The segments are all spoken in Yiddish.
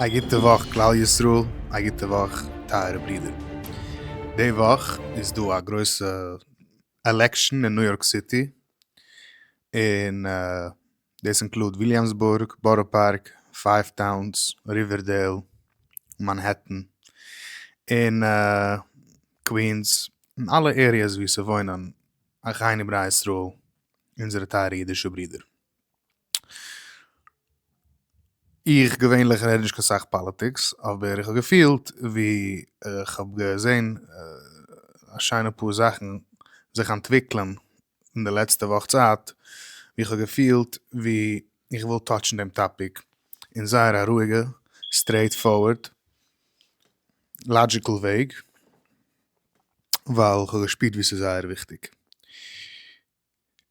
א גוטע וואך כלל ישראל, א גוטע וואך טייערע ברידער. די וואך איז דא א גרויסע עלעקשאן אין ניו יארק סיטי, און דאס אינקלוד וויליאמסבורג, בארא פארק, פייוו טאונס, ריווערדעיל, מאנהעטן, און קווינס, און אלע עריעס וואו ס'וואוינען אחינו בני ישראל, אונזערע טייערע אידישע ברידער. איך געווענליך רעד נישט קיין סאך פאליטיקס אבער איך האב געפילט ווי איך האב געזען א שיינע פאר זאכן זיך אנטוויקלען אין די לעצטע וואך צייט ווי איך האב געפילט ווי איך וויל טאטשן דעם טאפיק אין זייער א רואיגע סטרעיט פארווערד לאדזשיקל וועג ווייל איך האב געשפירט ווי ס'איז זייער וויכטיג.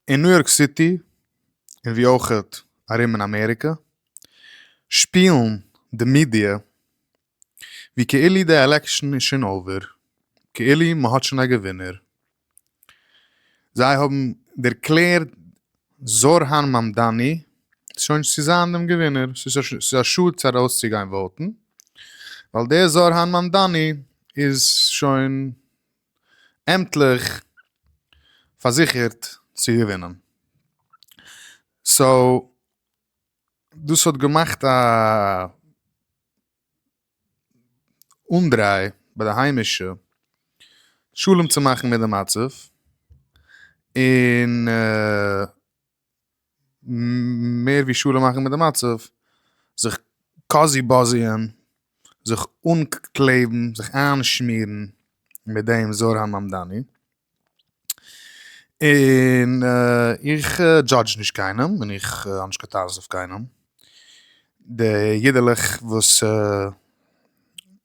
אין ניו יארק סיטי און ווי אויך ארום אין אמעריקע שפילן די מידיע ווי כאילו די עלעקשאן איז שוין אויווער, כאילו מ'האט שוין א געווינער. זיי האבן דערקלערט זארהאן מאמדאני שוין צו זיין דעם געווינער, ס'איז א שאד צו ארויסצוגיין וואוטן ווייל דער זארהאן מאמדאני איז שוין עמטליך פארזיכערט צו געווינען. סאו דאס האט געמאכט א אנדריי ביי די היימישע שלום צו מאכן מיט די מצב און מער ווי שלום מאכן מיט די מצב, זיך קאזי באזי'ען, זיך אנקלעבן, זיך איינשמירן מיט דעם זר הממדני, און איך דזשאדזש נישט קיינעם און איך האב נישט קיין טענות אויף קיינעם, די אידעלעך וואס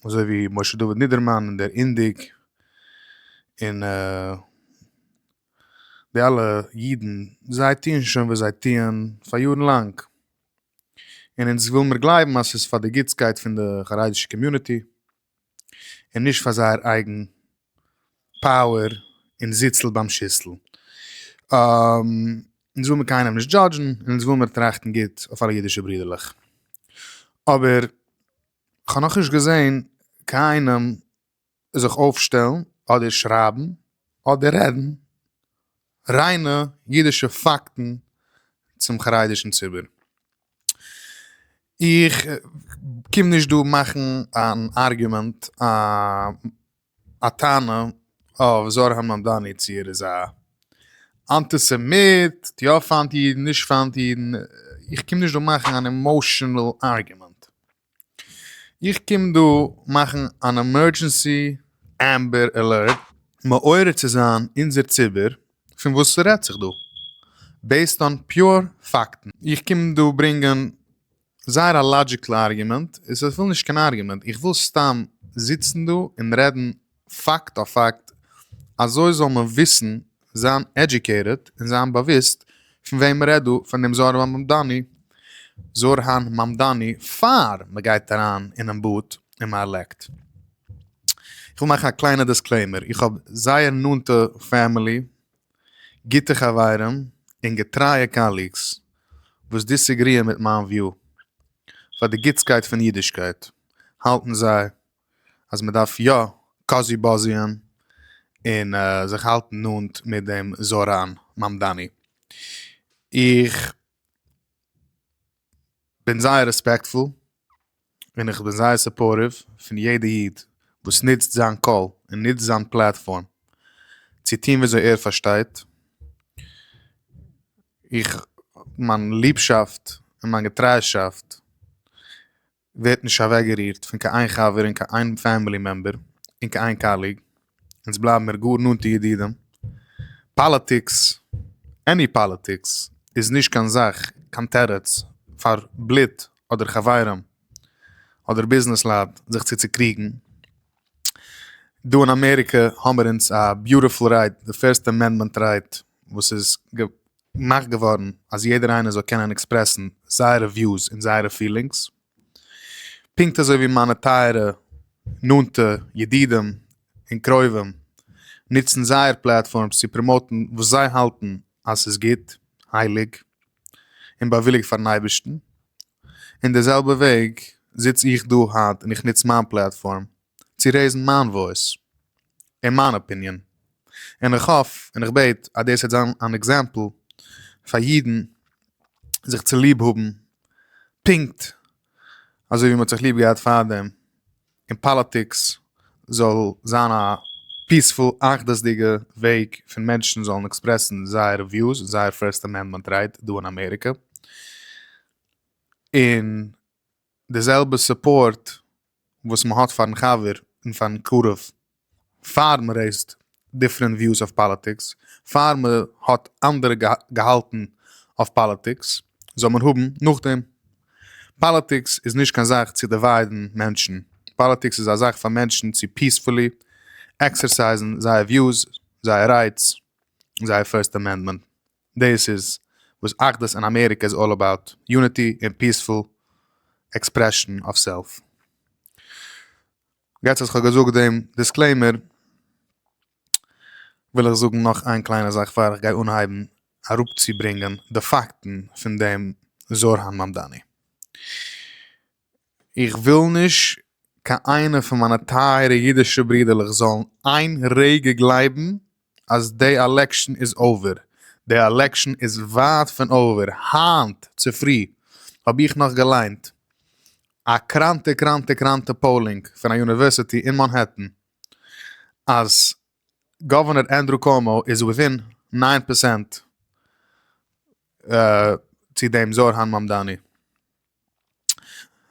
אזוי ווי משה דוד נידערמאן און דער אינדיג און. די אלע אידן זיי טוען שוין וואס זיי טוען פאר יארן לאנג, און אונז וויל מיר גלייבן אז ס'איז פאר די גוטסקייט פון די חרדישע קאמיוניטי, און נישט פאר זייער אייגן פאוער און זיצל ביים שיסל. אונז וויל מיר קיינעם נישט דזשאדזשן, און אונז וויל מיר טראכטן גוט אויף אלע אידישע ברודערלעך. אבער כ'האב נאכנישט געזען קיינעם זיך אויפשטעלן אדער שרייבן אדער רעדן ריינע אידישע פאקטן צום חרדישן ציבור. איך קום נישט דא מאכן אן ארגומענט א טענה אויף זוהר הממדני צו ער איז א אנטיסעמיט, טוט יא פיינט אידן, נישט פיינט אידן, איך קום נישט דא מאכן אן עמאושענעל ארגומענט. איך קום דא מאכן אן עמערדזשענסי עמבער אלערט מעורר צו זיין אונזער ציבור פון וואס ס'רעדט זיך דא, בעיסד אן פיור פאקטן. איך קום דא ברענגען זייער א לאדזשיקל ארגומענט, און ס'איז אפילו נישט קיין ארגומענט, איך וויל סתם זיצן דא און רעדן. פאקט אויף פאקט, אזוי זאל מען וויסן, זיין עדיוקעיטעד, און זיין באוויסט, פון וועם מ'רעדט דא, פון דעם זוהר הממדני, זוהר הממדני, פאר מ'גייט אריין אינעם באד און מ'ארלעקט. איך וויל מאכן א קליינע דיסקלעימער, איך האב זייער נאנטע פעמילי, גוטע חברים, און געטרייע קאליגס, וואס דיסעגריען מיט מיין וויאו, פאר די גוטסקייט פון אידישקייט, האלטן זיי אז מען דארף יא קאזי באזי'ען און זיך האלטן נאנט מיט דעם זאראן מאמדאני. איך בין זייער רעספעקטפול און איך בין זייער סופארטיוו פון יעדע איד וואס נוצט זיין קול און נוצט זיין פלאטפארם צו טון וויאזוי ער פארשטייט. איך מיין ליבשאפט און מיין געטריישאפט ווערט נישט אוועקגערירט פון קיין איין חבר און קיין איין פעמילי מעמבער און קיין איין קאליג, אונז בלייבן מיר גאר נאנטע ידידים, פאליטיקס, עני פאליטיקס, איז נישט קיין זאך, קיין תירוץ, פאר בלוט אדער חברים אדער ביזנעסלייט זיך צו צוקריגן. דא אין אמעריקע האמער אונז א ביוטיפול רייט די פירסט אמענדמענט רייט וואס איז געמאכט געווארן אז יעדער איינער זאל קענען עקספרעסן זייערע וויוס און זייערע פילינגס פונקט אזוי ווי מיינע טייערע נאנטע ידידים און קרובים נוצן זייער פלאטפארמס צו פראמאוטן וואס זיי האלטן אז ס'איז גוט הייליג און באוויליגט פארן אייבערשטן אין די זעלבע וועג זיץ איך דא היינט און איך נוץ מיין פלעטפארם צו רעיזן מיין וואויס און מיין אפיניען, און איך האף און איך בעט אז דאס וועט זיין אן עקזעמפל פאר אידן זיך צוליב האבן פונקט אזוי ווי מען האט זיך ליב געהאט פארדעם. און פאליטיקס זאל זיין א פיעספול אחדות'דיגע וועג פון מענטשן זאלן עקספרעסן זייערע וויוס און זייער פירסט אמענדמענט רייט דא אין אמעריקע און די זעלבע סופארט וואס מ'האט פארן חבר און פארן קרוב פאר מען רעיזט דיפרענט וויוס אויף פאליטיקס, פאר מען האט אנדערע געהאלטן אויף פאליטיקס, זאל מען האבן נאכדעם. פאליטיקס איז נישט קיין זאך צו דיוויידן מענטשן, פאליטיקס איז א זאך פאר מענטשן צו פיעספולי עקסערסייזן זייער וויוס, זייער רייטס, זייער פירסט אמענדמענט. דאס איז וואס אחדות אין אמעריקע איז אלל אבאוט, יוניטי און פיעספול עקספרעשן אוו סעלף. יעצט אז כ'האב געזאגט דעם דיסקלעימער, וויל איך זאגן נאך איין קליינע זאך פאר איך גיי אנהייבן אראפצוברענגען די פאקטן פון דעם זוהר הממדני. איך וויל נישט קיין איינע פון מיינע טייערע אידישע ברודערלעך זאלן איין רגע גלייבן אז די עלעקשן איז אווער, די עלעקשן איז ווייט פון אווער, היינט צופרי האב איך נאך געליינט א קראנטע קראנטע קראנטע פאולינג פון א יוניווערסיטי אין מאנהעטן אז גאווערנער ענדרו קאומאו איז וויטין נײַן פערסענט צו דעם זארהאן מאמדאני,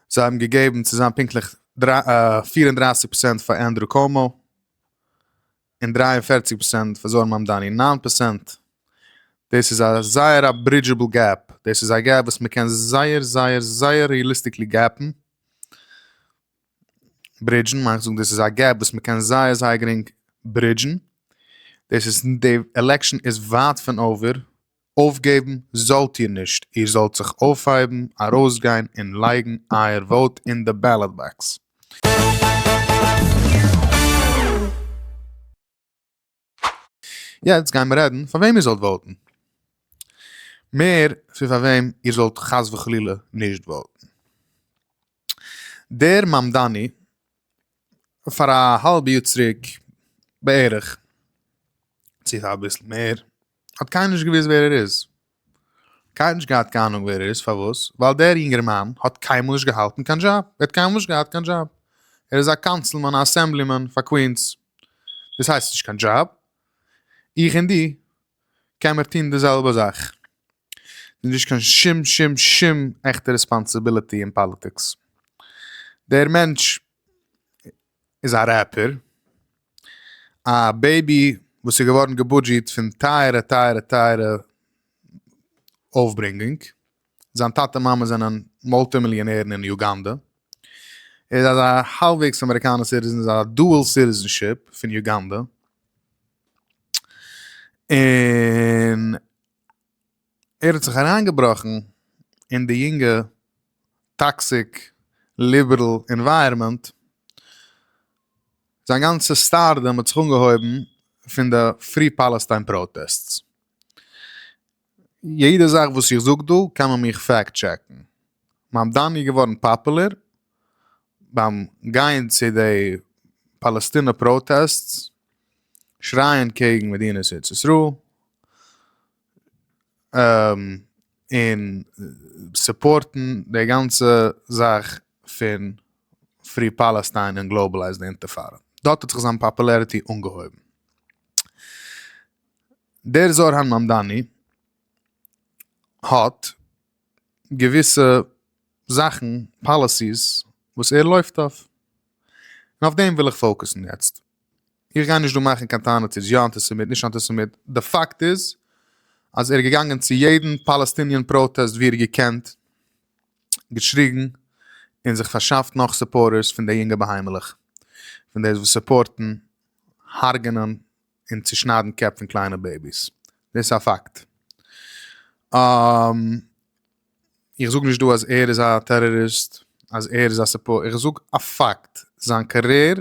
זיי האבן געגעבן צו זיין פונקטליך פֿיר און דרײַסיק פערסענט פאר ענדרו קאומאו. און דרײַ און פֿערציק פראצענט פאר זוהר מאמדאני נײַן פראצענט דאס איז א זייער א ברידזשעבל געפ דאס איז א געפ וואס מען קען זייער זייער זייער ריעליסטיקלי געפן ברידזשן מיין איך זאגן דאס איז א געפ וואס מען קען זייער זייער גרינג ברידזשן דאס איז די עלעקשאן איז ווייט פון אויווער אויפגעבן זאלט איר נישט, איר זאלט זיך אויפהייבן, ארויסגיין און לייגן אייער וואוט אין די בעלאט באקס. יעצט גיימיר רעדן פאר וועם איר זאלט וואוטן, מער פון פאר וועם איר זאלט חס וחלילה נישט וואוטן. דער מאמדאני פאר א האלב יאר צוריק בערך, צו אביסל מער, האט קיינער נישט געוואוסט ווער ער איז. קיינער האט נישט געהאט קיין אהנונג ווער ער איז, פארוואס? ווייל דער יונגערמאן האט קיינמאל נישט געהאלטן קיין דזשאב, ער האט קיינמאל נישט געהאט קיין דזשאב. ער איז א קאנסילמאן, א אסעמבלימאן פאר קווינס. דאס הייסט נישט קיין דזשאב. איך און דו קענמער טון די זעלבע זאך. ס'איז נישט קיין שום שום שום עכטע רעספאנסיביליטי אין פאליטיקס. דער מענטש איז א רעפער, א בעיבי וואס איז געווארן געבודזשעט פון טייערע טייערע טייערע אויפברענגונג, זיין טאטע און מאמע זענען מולטי מיליאנערן אין יוגאנדע, ער איז אזא האלבוועגס אמעריקאנער סיטיזען, איז א דועל סיטיזענשיפ פון יוגאנדע, און ער האט זיך אריינגעבראכן אין די יונגע טאקסיק ליבערל ענווייערמענט, זיין גאנצע סטארדאם האט זיך אנגעהויבן פון די פרי פאלעסטיין פראטעסטס, יעדע זאך וואס איך זאג דא קען מען מיך פעקט טשעקן, מען דאן איז געווארן פאפולער ביים גיין צו די פאלעסטינע פראטעסטס שרייען קעגן מדינת ארץ ישראל און סופארטן די גאנצע זאך פון פרי פאלעסטיין און גלאבעלייז די אינטיפאדא, דארט האט זיך זיין פאפולעריטי אנגעהויבן. דער זוהר הממדני האט. געוויסע זאכן פאליסיס וואס ער לויפט אויף און אויף דעם וויל איך פאוקוסן יעצט איך גיי נישט דא מאכן קיין טענות איז יא אנטיסעמיט נישט אנטיסעמיט די פאקט איז אז ער איז געגאנגען צו יעדן פאלעסטיניען פראטעסט ווי ער האט געקענט געשריגן און זיך פארשאפט נאך סופארטערס פון די יונגע בהמה'לעך פון די וואס סופארטן הרג'נען און צושניידן קעפ פון קליינע בעיביס, דאס איז א פאקט. איך זאג נישט דא אז ער איז א טעראריסט, אז ער איז א סיפור, איך זאג א פאקט, זיין קאריער,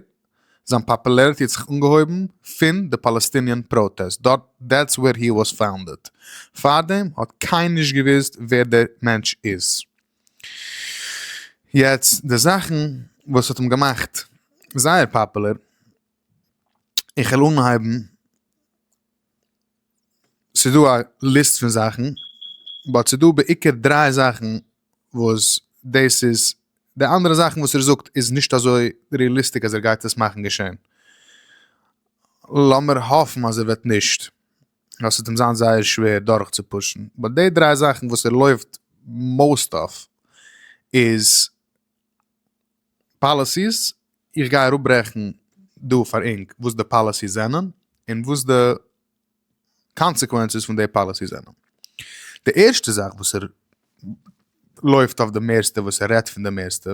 זיין פאפולעריטי האט זיך אנגעהויבן פון די פאלעסטיניען פראטעסט, דארט, דעטס ווער הי וואס פאונדעד, פארדעם האט קיינער נישט געוואוסט ווער דער מענטש איז. יעצט די זאכן וואס האט אים געמאכט זייער פאפולער, איך וועל אנהייבן, ס'איז דא א ליסט פון זאכן, באט ס'איז דא בעיקר דריי זאכן וואס דאס איז, די אנדערע זאכן וואס ער זאגט איז נישט אזוי ריעליסטיק אז ער גייט עס מאכן געשען, לאמיר האפן אז ער וועט נישט, ווייל ס'וועט אים זיין זייער שווער דורכצופושן, באט די דריי זאכן וואס ער לויפט מאוסט אויף איז. פאליסיס, איך גיי אראפברעכן דא פאר ענק וואס די פאליסיס זענען און וואס די קאנסעקווענצעס פון די פאליסיס זענען. די ערשטע זאך וואס ער לויפט אויף די מערסטע וואס ער רעדט פון די מערסטע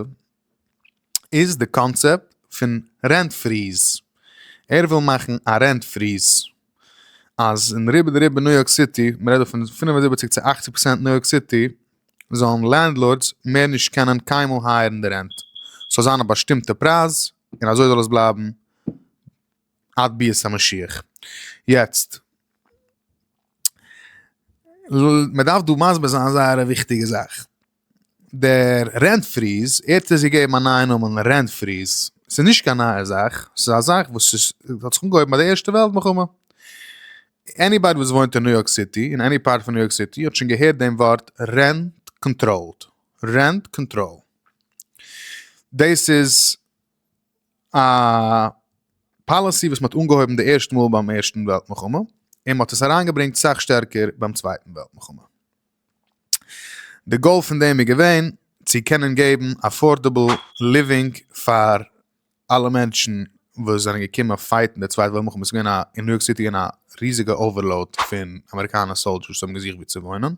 איז די קאנצעפט פון רענט פריז, ער וויל מאכן א רענט פריז. אז אין רובא דרובא ניו יארק סיטי, מען רעדט דא פון פֿינף און זיבעציק צו אַכציק פראצענט ניו יארק סיטי, זאלן לענדלארדס מער נישט קענען קיינמאל הייערן די רענט. ס'זאל זיין א באשטימטע פרייז און אזוי זאל עס בלייבן עד ביאת המשיח. יעצט, מען דארף דא מסביר זיין זייער א וויכטיגע זאך. דער רענט פריז, ער האט דאס געגעבן א נייע נאמען רענט פריז, ס'איז נישט קיין נייע זאך, ס'איז א זאך וואס איז האט זיך אנגעהויבן ביי די ערשטע וועלט מלחמה, עניבאדי וואס וואוינט אין ניו יארק סיטי, אין עני פארט פון ניו יארק סיטי האט שוין געהערט דעם ווארט רענט קאנטראלד, רענט קאנטראל, דאס איז א פאליסי וואס מ'האט אנגעהויבן די ערשטע מאל ביים ערשטן וועלט מלחמה, און מ'האט עס אריינגעברענגט סאך שטערקער ביים צווייטן וועלט מלחמה. די גאול פון דעם איז געווען צו קענען געבן אפארדעבל ליווינג פאר אלע מענטשן וואס זענען געקומען פייטן די צווייטע וועלט מלחמה וואס איז געווען א אין ניו יארק סיטי געווען א ריזיגע אווערלאוד פון אמעריקאנער סאלדשערס וואס האבן געזוכט ווי צו וואוינען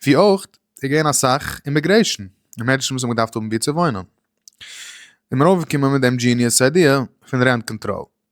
ווי אויך איז געווען אסאך אימיגרעישן און מענטשן וואס האבן געדארפט האבן ווי צו וואוינען איז מען אויפגעקומען מיט דעם דזשיניעס איידיע פון רענט קאנטראל.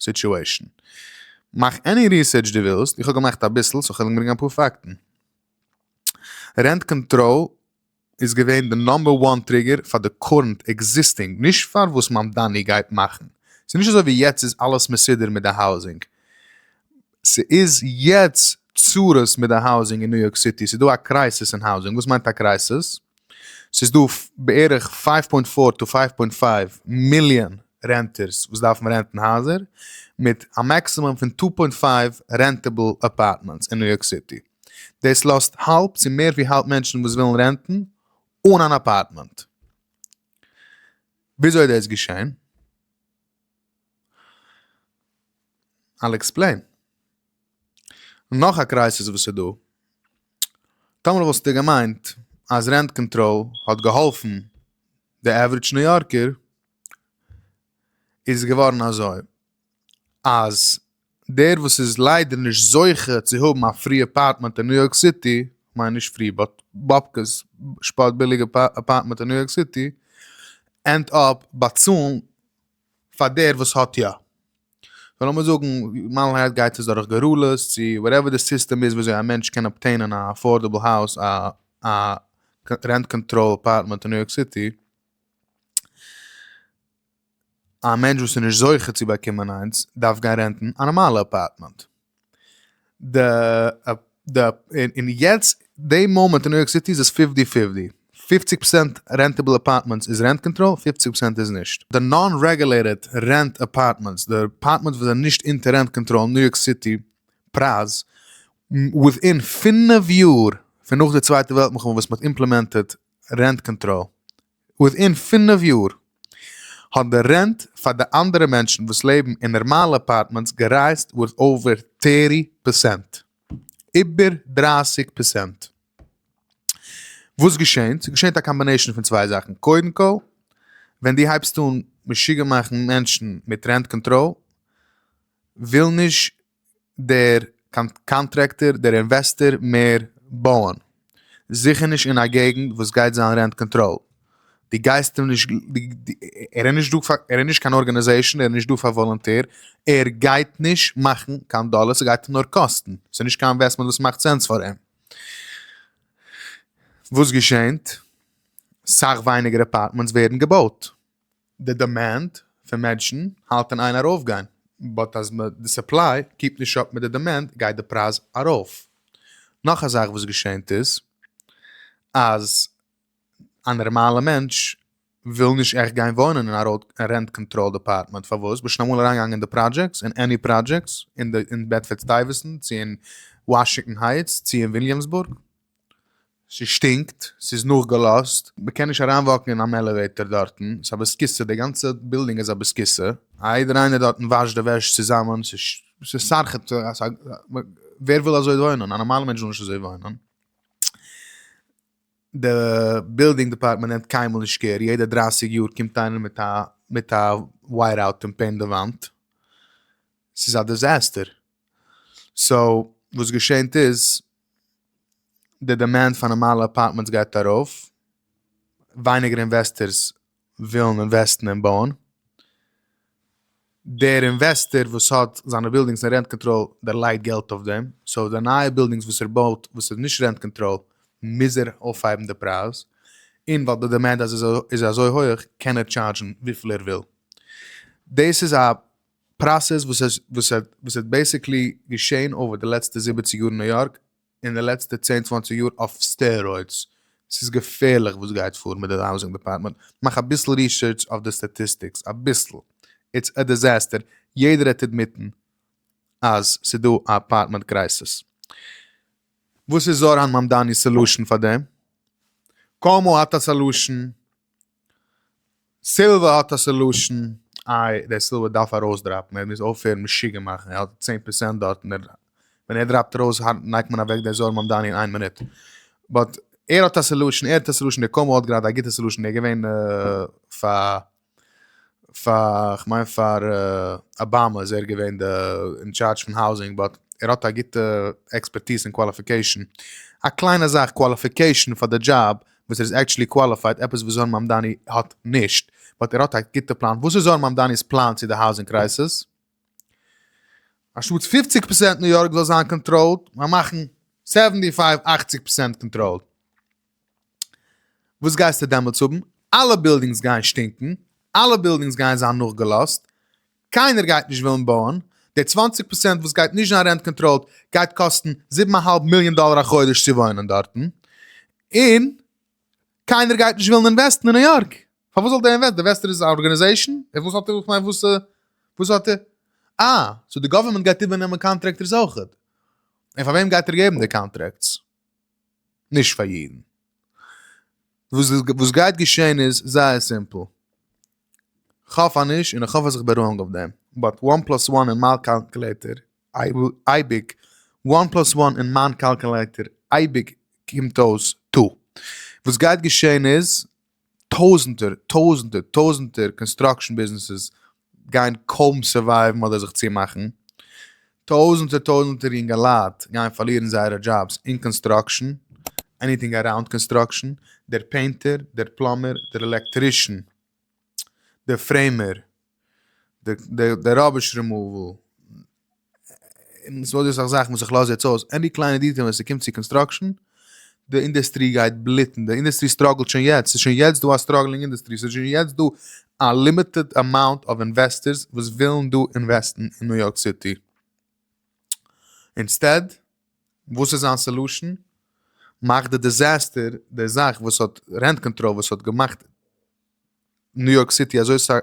סיטועשן. מאך עני ריסערטש דו ווילסט, איך האב געמאכט אביסל סאו כ'וועל אנברענגען אפאר פאקטן. רענט קאנטראל איז געווען די נאמבער וואן טריגער פאר די קורענט עקזיסטינג, נישט פאר וואס מאמדאני גייט מאכן. ס'נישט אזוי ווי יעצט איז אלעס מסודר מיט די האוזינג. ס'איז יעצט צרות מיט די האוזינג אין ניו יארק סיטי, ס'איז דא א קרייסיס אין האוזינג, וואס מיינט א קרייסיס? ס'איז דא בערך פייוו פוינט פאר טו פייוו פוינט פייוו מיליאן רענטערס וואס דארפן רענטן הייזער, מיט א מעקסימום פון טו פוינט פייוו רענטעבל אפארטמענטס אין ניו יארק סיטי, דאס לאזט האלב צו מער ווי האלב מענטשן וואס ווילן רענטן אן אן אפארטמענט. וויאזוי איז דאס געשען? אייל עקספלעין. נאך א קרייסיס וואס איז דא. טאמער וואלסטו געמיינט אז רענט קאנטראל האט געהאלפן די עווריטש ניו יארקער, איז געווארן אזוי אז דער וואס איז ליידער נישט זוכה צו האבן א פרי אפארטמענט אין ניו יארק סיטי, כ'מיין נישט פרי באט באבקעס שפאט ביליגע אפארטמענט אין ניו יארק סיטי, ענד אפ באצאלן פאר דער וואס האט יא. סאו לאמיר זאגן מיילנהייט גייט עס דורך גורלות צו וואטעווער די סיסטעם איז וויאזוי א מענטש קען אבטעינען א אפארדעבל האוז א א רענט קאנטראל אפארטמענט אין ניו יארק סיטי, א מענטש וואס איז נישט זוכה צו באקומען איינס דארף גיין רענטן א נארמאלע אפארטמענט. און יעצט די מאמענט אין ניו יארק סיטי איז עס פיפטי פיפטי, פופציג פראצענט רענטעבל אפארטמענטס איז רענט קאנטראל, פופציג פראצענט איז נישט. די נאן רעגולעיטעד רענט אפארטמענטס, די אפארטמענטס וואס זענען נישט אונטער רענט קאנטראל אין ניו יארק סיטי פרייז, וויטין פינף יאר פון נאך די צווייטע וועלט מלחמה וואס מען האט אימפלעמענטעד רענט קאנטראל, וויטין פינף יאר האט די רענט פאר די אנדערע מענטשן וואס לעבן אין נערמאלע אפארטמענטס גערייזט ווארט אווער טערטי פערסענט. איבער דרייסיג פערסענט. וואס געשענט? ס'געשענט א קאמבינעישן פון צוויי זאכן. קודם כל ווען די הייבסט אן משוגע מאכן מענטשן מיט רענט קאנטראל וויל נישט דער קאנטרעקטער דער אינוועסטער מער בויען, זיכער נישט אין א געגנט וואס גייט זיין רענט קאנטראל, די גייסט אים נישט ער איז נישט דא פאר ער איז נישט קיין ארגענעזעישן ער איז נישט דא פאר וואלענטיר ער גייט נישט מאכן קיין דאלער ס'גייט אים נאר קאסטן ס'איז נישט קיין אינוועסטמענט וואס מאכט סענס פאר אים. וואס געשענט? סאך ווייניגער אפארטמענטס ווערן געבויט. די דעמענד פון מענטשן האלט אין איין ארויפגיין, באט אז די סופליי קיפט נישט אפ מיט די דעמענד גייט די פרייז ארויף. נאך א זאך וואס געשענט איז אז א נערמאלע מענטש וויל נישט עכט גיין וואוינען אין א רענט קאנטראלד אפארטמענט פארוואס? ביזט שוין אמאל אריינגעגאנגען אין די פראדזשעקטס אין עני פראדזשעקטס אין בעדפארד סטייוועסענט צו אין וואשינגטאן הייטס צו אין וויליאמסבורג? ס'שטינקט, ס'איז נאכגעלאזט, מ'קען נישט אריינוואקן אין אן עלעוועיטאר דארטן, ס'איז א בוסקיסע, די גאנצע בילדינג איז א בוסקיסע, א יעדער איינער דארטן וואשט די וועש צוזאמען, ס'איז סארח, ווער וויל אזוי וואוינען, א נארמאלע מענטש וויל נישט אזוי וואוינען, די בילדינג דעפארטמענט נעמט קיינמאל נישט קער, יעדע דרייסיג יאר קומט איינער מיט א מיט א ווייט אוט און פעינט די וואנט, ס'איז א דיזעסטער, סאו וואס געשענט איז, די דימענד פאר נארמאלע אפארטמענטס גייט ארויף, ווייניגער אינוועסטערס ווילן אינוועסטן אין בויען, דער אינוועסטער וואס האט זיינע בילדינגס אין רענט קאנטראל דערלייגט געלט אויף דעם, סאו די נייע בילדינגס וואס ער בויט וואס איז נישט רענט קאנטראל מוז ער אויפהייבן די פרייז, און ווייל די דימענד איז אזוי הויעך קען ער טשארדזשן וויפיל ער וויל, דאס איז א פראסעס וואס האט בעסיקלי געשען אויף די לעצטע זיבעציג יאר אין ניו יארק און די לעצטע צען צוואנציג יאר אויף סטערוידס, ס'איז געפערליך וואס גייט פאר מיט די האוזינג דעפארטמענט, מאך אביסל ריסערטש אויף די סטאטיסטיקס, אביסל, איטס א דיזעסטער, יעדער וועט עדמיטן אז ס'דא א אפארטמענט קרייסעס. וואס איז זאראן מאמדאני'ס סעלושען פאר דעם? קאומאו האט א סעלושען? סילווער האט א סעלושען, איי דער סילווער דארף ארויסדראפן, ער מוז אויפהערן משוגע מאכן, ער האט צען פערסענט דארט און ער ווען ער דראפט ארויס נייט מען אוועק דער זוהר מאמדאני אין איין מינוט, באט ער האט א סעלושען, ער האט א סעלושען, דער קאומאו האט גראדע א גוטע סעלושען, ער איז געווען פאר פאר כ'מיין פאר אבאמא איז ער געווען די אין טשארדזש פון האוזינג באט ער האט א גוטע עקספערטיז און קוואליפיקעישן, א קליינע זאך קוואליפיקעישן פאר די דזשאב וואס ער איז עקטשעלי קוואליפייד, עפעס וואס זוהר מאמדאני האט נישט, באט ער האט א גוטע פלאן, וואס איז זוהר מאמדאני'ס פלאן צו די האוזינג קרייסיס? א שטאטס פופציג פערסענט ניו יארק זאל זיין קאנטראלד, מיין מאכן סעווענטי פייוו אכציג פערסענט קאנטראלד, וואס גייסטו דעמאלטס האבן? אלע בילדינגס גייען שטינקן, אלע בילדינגס גייען זיין נאכגעלאזט, קיינער גייט נישט ווילן בויען, די צוואַנציק פראצענט וואס גייט נישט זיין רענט קאנטראלד גייט קאסטן זיבן א האלב מיליאן דאלער א חודש צו וואוינען דארטן, און קיינער גייט נישט ווילן אינוועסטן אין ניו יארק, פארוואס זאל דער אינוועסטער, די אינוועסטער איז א ארגענעזעישן? איך וואס האט ער, איך מיין וואס וואס האט ער, אה, סאו די גאווערמענט גייט איבערנעמען קאנטרעקטערס אויכעט, און פאר וועם גייט ער געבן די קאנטרעקטס? נישט פאר יעדן. וואס וואס גייט געשען איז זייער סימפל. כ'האף אז נישט, און כ'האף אז כ'בין ראנג אויף דעם, באט וואן פלאס וואן אין מיין קאלקולעיטער אייביג וואן פלאס וואן אין מיין קאלקולעיטער אייביג קומט אויס טו. וואס גייט געשען איז, טויזענטער, טויזענטער, טויזענטער קאנסטראקשען ביזנעסעס גייען קוים סורווייווען אדער זיך צומאכן. טויזענטער טויזענטער יונגעלייט גייען פארלירן זייערע דזשאבס אין קאנסטראקשען, עניטינג אראונד קאנסטראקשען, דער פעינטער, דער פלאמער, דער עלעקטרישען, דער פרעימער, דער ראביש רימאוועל, און ס'וואלט דא אסאך זאכן וואס איך לאז יעצט אויס, עני קליינע דיטעיל ווען ס'קומט צו קאנסטראקשען, די אינדעסטרי גייט בליטן, די אינדעסטרי סטראגלט שוין יעצט, ס'איז שוין יעצט דא א סטראגלינג אינדעסטרי, ס'איז שוין יעצט דא א לימיטעד אמאונט אוו אינוועסטערס וואס ווילן דא אינוועסטן אין ניו יארק סיטי. אינסטעד, וואס איז זיין סעלושען? מאך די דיזעסטער, די זאך וואס האט רענט קאנטראל וואס האט געמאכט, ניו יארק סיטי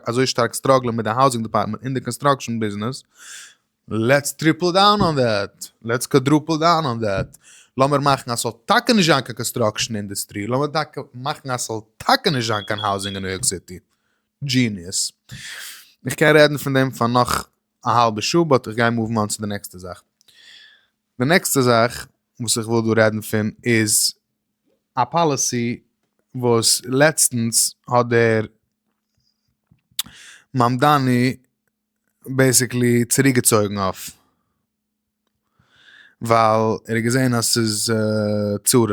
אזוי שטארק סטראגלען מיט די האוזינג דעפארטמענט און די קאנסטראקשען ביזנעס, לעטס טריפל דאון אן דעט, לעטס קוואדרופל דאון אן דעט, לאמיר מאכן אז ס'זאל טאקע נישט זיין קיין קאנסטראקשען אינדוסטרי, לאמיר טאקע מאכן אז ס'זאל טאקע נישט זיין קיין האוזינג אין ניו יארק סיטי. דזשיניעס. איך קען רעדן פון דעם פאר נאך א האלבע שעה באט איך גיי מאוו אן צו די נעקסטע זאך. די נעקסטע זאך וואס איך וויל דא רעדן פון איז א פאליסי וואס לעצטנס האט דער מאמדאני בעיסיקלי צוריק געצויגן אויף, ווייל ער האט געזען אז ס'איז צרות,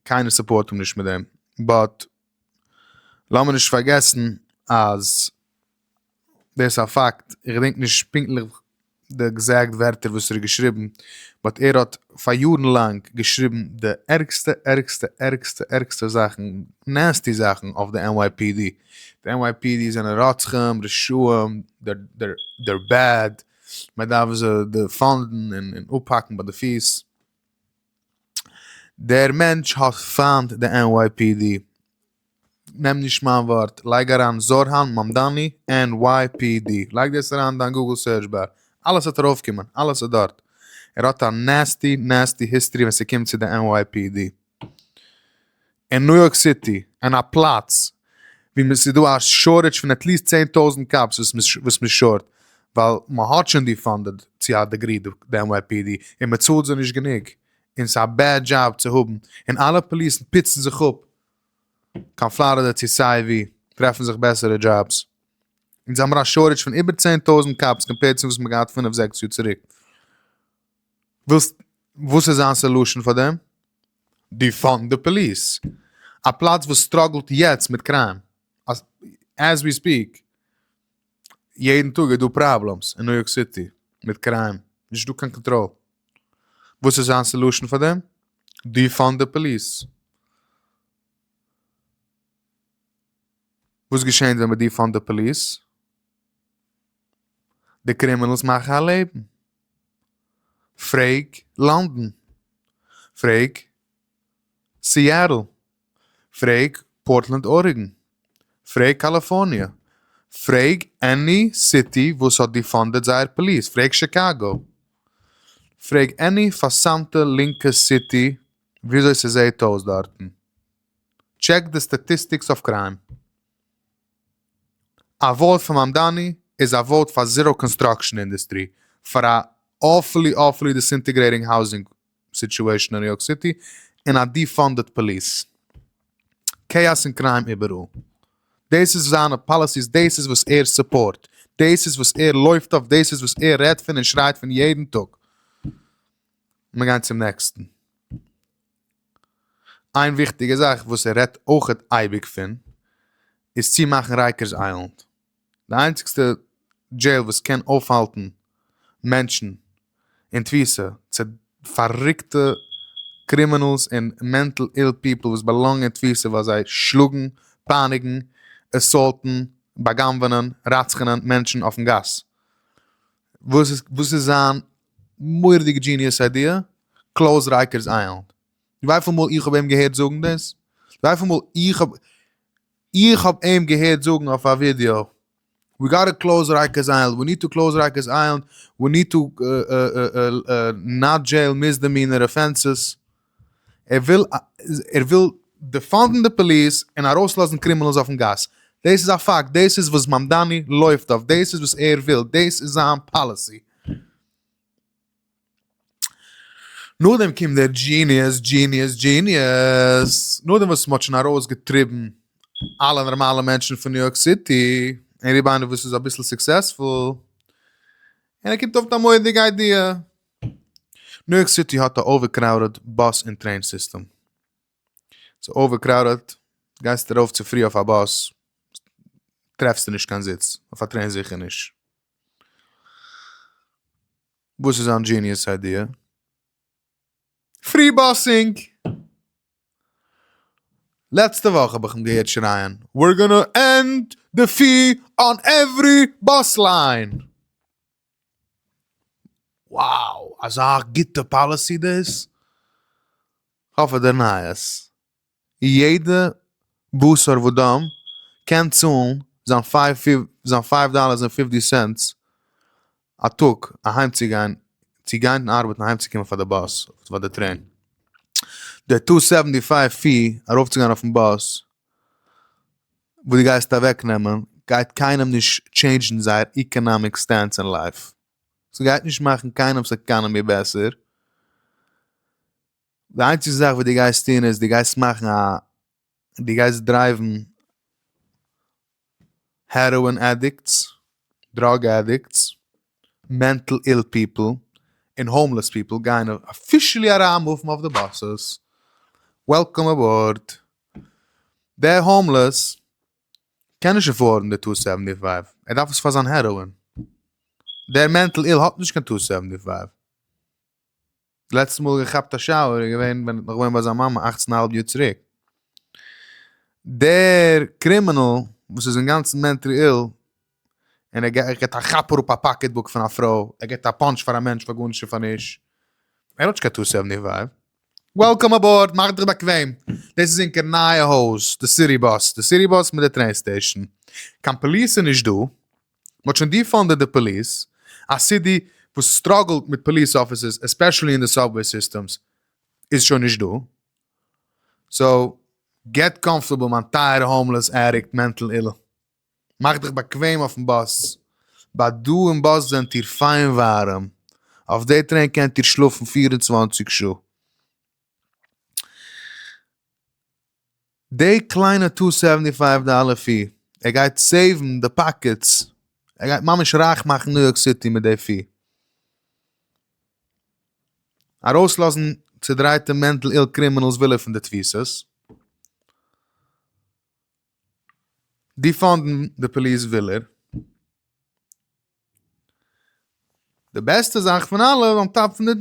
קיינער סופארט אים נישט מיט דעם, באט לאמיר נישט פארגעסן אז דאס א פאקט איך געדענק נישט פונקטליך די עקזעקט ווערטער וואס ער האט געשריבן באט ער האט פאר יארן לאנג געשריבן די ערגסטע ערגסטע ערגסטע ערגסטע זאכן נעסטי זאכן אויף די NYPD. די NYPD זענען רוצחים רשעים דער בעד מען דארף זיי דעפאנדן און אפהאקן ביי די פיס. דער מענטש האט פיינט די NYPD. נעם נישט מיין ווארט, לייג אריין זארהאן מאמדאני NYPD, לייג דאס אריין אין דיין גוגל סערטש באר, אלעס וועט ארויף קומען, אלעס איז דארט. ער האט א נעסטי נעסטי היסטערי ווען ס'קומט צו די NYPD. אין ניו יארק סיטי, אין א פלאץ ווי מען ס'איז דא א שארטעדזש פון עטליסט צען טויזענט קאפס וואס מען וואס מען שארט ווייל מען האט שוין דיפאנדעד צו א דעגרי די NYPD און מען צאלט זיי נישט גענוג און ס'איז א בעד דזשאב צו האבן און אלע פאליסן פיצן זיך אפ קיין פלארידע צו סיי ווי טרעפן זיך בעסערע דזשאבס אונז האמער א שארטעדזש פון איבער צען טויזענט קאפס קאמפעירד צו וואס מען האט געהאט פינף זעקס יאר צוריק. ווילסט וואס איז זיין סעלושען פאר דעם? דיפאנד די פאליס. א פלאץ וואס סטראגלט יעצט מיט קריים. עז ווי ספיעק. יעדן טאג איז דא פראבלעמס אין ניו יארק סיטי מיט קריים. נישט דא קיין קאנטראל. וואס איז זיין סעלושען פאר דעם? דיפאנד די פאליס. וואס געשענט ווען מ'דיפאנד די פאליס? די קרימינעלס מאכן א לעבן. פרעג לאנדאן, פרעג סיאטעל, פרעג פארטלענד ארעגאן, פרעג קאליפארניע, פרעג עני סיטי וואס האט דיפאנדעד זייער פאליס, פרעג שיקאגא, פרעג עני פארסמטע לינקע סיטי וויאזוי ס'זעהט אויס דארטן, טשעק די סטאטיסטיקס אויף קריים. א ווארט פאר מאמדאני איז א ווארט פאר זיראו קאנסטראקשען אינדעסטרי, פאר א אויפולי אויפולי דיסאינטעגרעיטינג האוזינג סיטועשען אין ניו יארק סיטי, און א דיפאנדעד פאליס. כאאס און קריים איבעראל. דאס איז זיינע פאליסיס דאס איז וואס ער סופארט. דאס איז וואס ער לויפט אויף דאס איז וואס ער רעדט פון און שרייט פון יעדן טאג. מיר גייען צום נעקסטן. איין וויכטיגע זאך וואס ער רעדט אויכעט אייביג פון איז צי מאכן רייקערס איילענד די איינציגסטע דזשעיל וואס קען אויפהאלטן מענטשן אין תפיסה צו פארריקטע קרימינאלס און מענטל איל פיפל וואס באלאנגען אין תפיסה ווייל זיי שלאגן פייניגן עסאלטן בא'גנב'ענען רצח'ענען מענטשן אויפן גאס וואס איז זיין מורא'דיגע דזשיניעס איידיע, קלאוז רייקערס איילענד. ווייפיל מאל איך האב אים געהערט זאגן דאס, ווייפיל מאל איך האב איך האב אים געהערט זאגן אויף א ווידיאו, ווי גאט טו קלאוז רייקערס איילענד, ווי ניד טו קלאוז רייקערס איילענד, ווי ניד טו נאט דזשעיל מיסדעמינער אפענסעס, ער וויל ער וויל דעפאנדן די פאליס און ארויסלאזן קרימינאלס אויפן גאס, דאס איז א פאקט, דאס איז וואס מאמדאני לויפט אויף, דאס איז וואס ער וויל, דאס איז זיין פאליסי. נאכדעם קומט דער דזשיניעס, דזשיניעס, דזשיניעס, נאכדעם וואס מ'האט שוין ארויסגעטריבן אלע נארמאלע מענטשן פון ניו יארק סיטי, און רובא איינער וואס איז אביסל סוקסעספול, און ער קומט אויף מיט א מודיגע איידיע. ניו יארק סיטי האט א אווערקראודעד באס און טרעין סיסטעם. ס'איז אווערקראודעד, גייסטו ארויף צו פרי אויף א באס, טרעפסטו נישט קיין זיץ, אויף א טרעין זיכער נישט. וואס איז זיין דזשיניעס איידיע? פרי באסינג! לעצטע וואך האב איך אים געהערט שרייען We're gonna end the fee on every bus line! wow אזא גוטע פאליסי דאס, כ'האף ער דערניי עס, יעדע בשר ודם קען צאלן זיין פייוו דאלערס און פיפטי סענטס א טאג אהיים צו גיין צו גיין און ארבעטן אהיים צו קומען פאר די באס אדער פאר די טרעין, די טו סעווענטי פייוו פי ארויפצוגיין אויפן באס. וואס דו גייסט אוועק נעמען גייט קיינעם נישט טשעינדזשן זייער איקענאמיק סטענס אין לייף, ס'גייט נישט מאכן קיינעם'ס עקאנעמי בעסער, די איינציגסטע זאך וואס דו גייסט טון איז דו גייסט מאכן א דו גייסט דרייוון העראאין עדיקטס, דראג עדיקטס. מענטל איל פיפל און האומלעס פיפל גייען אפישעלי אריינמופן אויף די באסעס, וועלקאם אבאורד. דער האומלעס קען נישט עפארדן די טא סעווענטי פייוו, ער דארף עס פאר זיין העראין. דער מענטל איל האט נישט קיין טא סעווענטי פייוו. די לעצטע מאל געכאפט א שאוער איז געווען ווען נאך געווען ביי זיין מאמע אַכצן אהאלב יאר צוריק. דער קרימינאל וואס איז אינגאנצן מענטרי איל, און ער געט ער געט א כאפ אראפ א פאקעט בוק פון א פרוי, ער געט א פאנטש פאר א מענטש פאר גארנישט און פאר נישט, ער האט נישט קיין טעות עוו ני ווייב. וועלקאם אבאורד, מאך דיך באקוועם, דאס איז ענקער נייע הויז, די סיטי באס, די סיטי באס מיט די טרעין סטעישאן, קיין פאליס איז נישט דא, מען האט שוין דיפאנדעד די פאליס, א סיטי וואס סטראגעלט מיט פאליס אפיסערס עספעשעלי אין די סאבוועי סיסטעמס איז שוין נישט דא, סאו געט קאמפארטעבל מיין טייערע האומלעס עדיקט מענטל אילל, מאך דיך באקוועם אויפן באס, ביי דא אין באס זענט איר פיין ווארעם, אויף די טרעין קענט איר שלאפן פֿיר און צוואַנציק שעה. דעי קליינע טו סעווענטי פייוו דאלער פי, ער גייט סעיוון די פאקעטס, ער גייט ממש רייך מאכן ניו יארק סיטי מיט דעי פי. ארויסלאזן צודרייטע מענטל איל קרימינעלס וויל ער פון די תפיסות, דיפאנדן די פאליס וויל ער, די בעסטע זאך פון אלע אן טאפ פון די.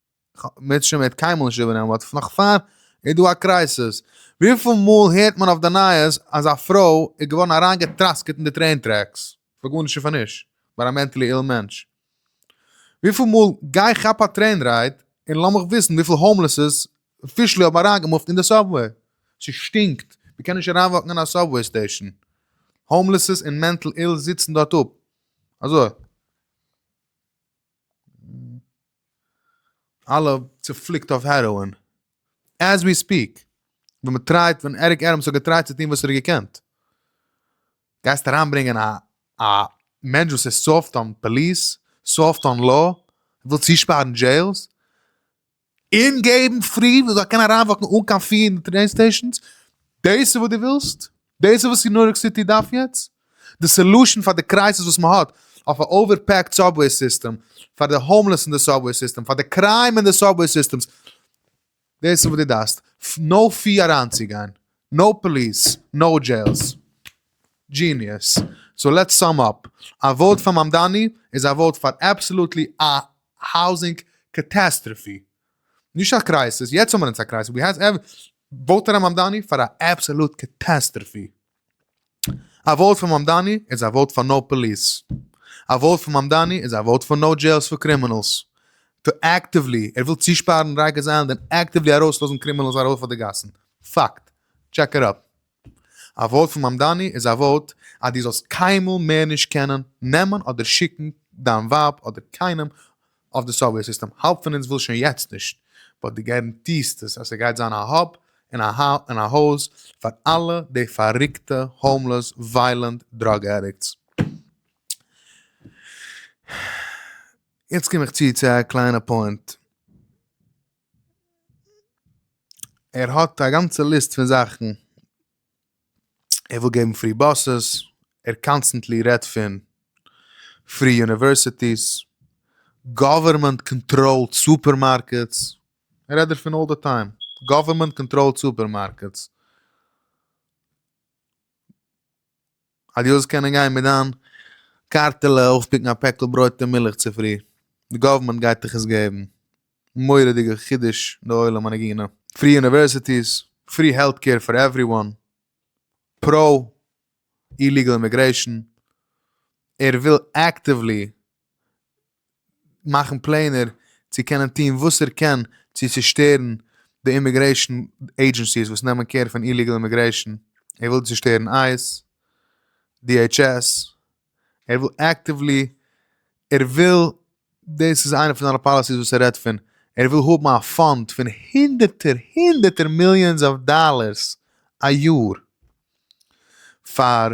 מיט שוין מיט קיינמאל נישט איבערנעמען באט פון נאך פאר איז דא א קרייסעס וויפיל מאל הערט מען אויף די נייעס אז א פרוי איז געווארן אריינגעטראסקעט אין די טרעין טרעקס פאר גארנישט און פאר נישט ביי א מענטלי איל מענטש וויפיל מאל גיי כאפ א טרעין רייד און לאמיך וויסן וויפיל האומלעסס אפישעלי האבן אריינגעמופט אין די סאבוועי ס'שטינקט מ'קען נישט אריינוואקן אין א סאבוועי סטעישן האומלעסס און מענטל איל זיצן דארט אפ אזוי. אלע צופליקט אויף העראאין עז ווי ספיק, ווען מען טרייט ווען עריק עדעמס האט געטרייט צו טון וואס ער האט געקענט, גייסט אריין ברענגען א א מענטש וואס איז סאפט אן פאליס, סאפט אן לאו, וויל צושפארן דזשעילס, און געבן פרי וואס זאל קענען אריינוואקן אן קיין פי אין די טרעין סטעישאנס, דאס איז וואס דו ווילסט? דאס איז וואס ניו יארק סיטי דארף יעצט? די סעלושען פאר די קרייזיס וואס מען האט אויף א אווער פעקד סאבוועי סיסטעם, פאר די האומלעס אין די סאבוועי סיסטעם, פאר די קריים אין די סאבוועי סיסטעמס, דאס איז וואס די דארפסט? נאו פי אריינצוגיין, נאו פאליס, נאו דזשעילס. דזשיניעס. סאו לעטס סאם אפ. א וואוט פאר מאמדאני איז א וואוט פאר אבסעלוטלי א האוזינג קאטעסטראפי. נישט א קרייסיס, יעצט האבן מיר אונז א קרייסיס, ווי הייסט ער, וואוט אריין מאמדאני פאר א אבסאלוט קעטעסטרעפי. א וואוט פאר מאמדאני איז א וואוט פאר נאו פאליס. א וואוט פאר מאמדאני איז א וואוט פאר נאו דזשעילס פאר קרימינאלס. טא עקטיוולי, ער וויל צושפארן רייגערס איילענד און עקטיוולי ארויסלאזן קרימינאלס ארויף אויף די גאסן. פאקט. טשעק איט אפ. א ווארט פון מאמדאני איז א ווארט אז דו זאלסט קיינמאל מער נישט קענען נעמען אדער שיקן דיין ווייב אדער קיינעם אויף די סאבוועי סיסטעם, האלב פון אונז וויל שוין יעצט נישט, באט דו גארענטירסט עס אז ס'גייט זיין א האב און א האוז פאר אלע די פארריקטע האומלעס וויילענט דראג עדיקטס. יעצט קום איך צו צו א קליינע פוינט. ער האט א גאנצע ליסט פון זאכן ער וויל געבן פרי באסעס, ער קאנסטענטלי רעדט פון פרי יוניווערסיטיס, גאווערמענט קאנטראלד סופערמארקעטס, ער רעדט דערפון אלל די טיים, גאווערמענט קאנטראלד סופערמארקעטס. אז דו זאלסט קענען גיין מיט דיין קארטעלע אויפפיקן א פעקל ברויט און מילך צופרי, די גאווערמענט גייט דיך עס געבן, מורא'דיגע חידוש לעולם הנגינה. פרי יוניווערסיטיס, פרי העלט קעיר פאר עווריוואן, פראו איליגעל אימיגרעישאן, ער וויל עקטיוולי מאכן פלענער צו קענען טון וואס ער קען צו צושטערן די אימיגרעישן עידזשענסיס וואס נעמען קער פון איליגעל אימיגרעישן, ער וויל צושטערן אייס, די עיטש עס, ער וויל עקטיוולי, ער וויל, דאס איז איינע פון זיינע פאליסיס וואס ער רעדט פון, ער וויל האבן א פאנד פון הונדערטער הונדערטער מיליאנס אוו דאלערס א יאר פאר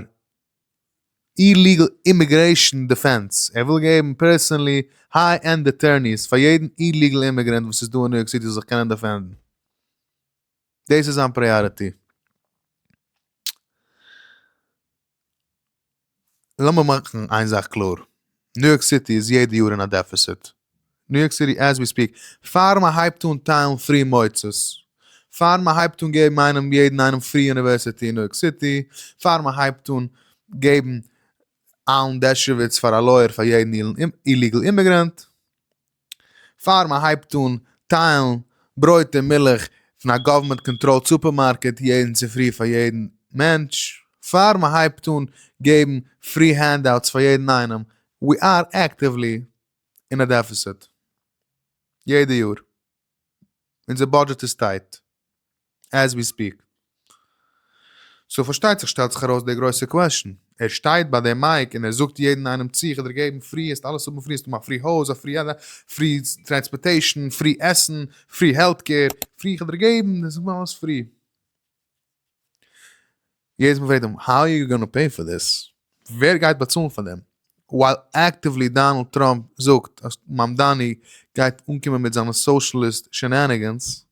איליגעל אימיגרעישאן דעפענס, ער וויל געבן פערסאנלי היי ענד אטוירניס פאר יעדן איליגעל אימיגרענט וואס איז דא אין ניו יארק סיטי זאל זיך קענען דעפענדן. דאס איז זיין פריאריטי. לאמיר מאכן איין זאך קלאר, ניו יארק סיטי איז יעדע יאר אין א דעפיסיט, ניו יארק סיטי עז ווי ספיק, פאר מען הייבט אן טיילן פרי מוצות, פאר מען הייבט אן געבן איינעם יעדן איינעם פרי יוניווערסיטי אין ניו יארק סיטי, פאר מען הייבט אן געבן אלן דערשוויץ פאר א לויער פאר יעדן איליגעל אימעגרענט, פאר מען הייבט אן טיילן ברויט און מילך פון א גאווערמענט קאנטראלד סופערמארקעט יעדן צופרי פאר יעדן מענטש, פאר מען הייבט אן געבן פרי הענדאוטס פאר יעדן איינעם, ווי אר עקטיוולי אין א דעפיסיט יעדע יאר, אונזער בודזשעט איז טייט עז ווי ספיעק, סאו פארשטייט זיך שטעלט זיך ארויס די גרויסע קוועשן, ער שטייט ביי די מייק און ער זאגט יעדן איינעם צי איך וועל דיר געבן פרי העסט אלעס האבן פרי, העסט האבן א פרי הויז א פרי א פרי טרענספארטעישן פרי עסן פרי העלט קעיר פרי איך וועל דיר געבן דאס איז אלעס פרי. יעדעס מאל פרעגט אים האו אר יו גאנא פעי פאר דיס? ווער גייט באצאלן פאר דעם? ווייל אקטיוולי דאנעלד טראמפ זאגט אז מאמדאני גייט אנקומען מיט זיינע סאושליסט שענענעגענס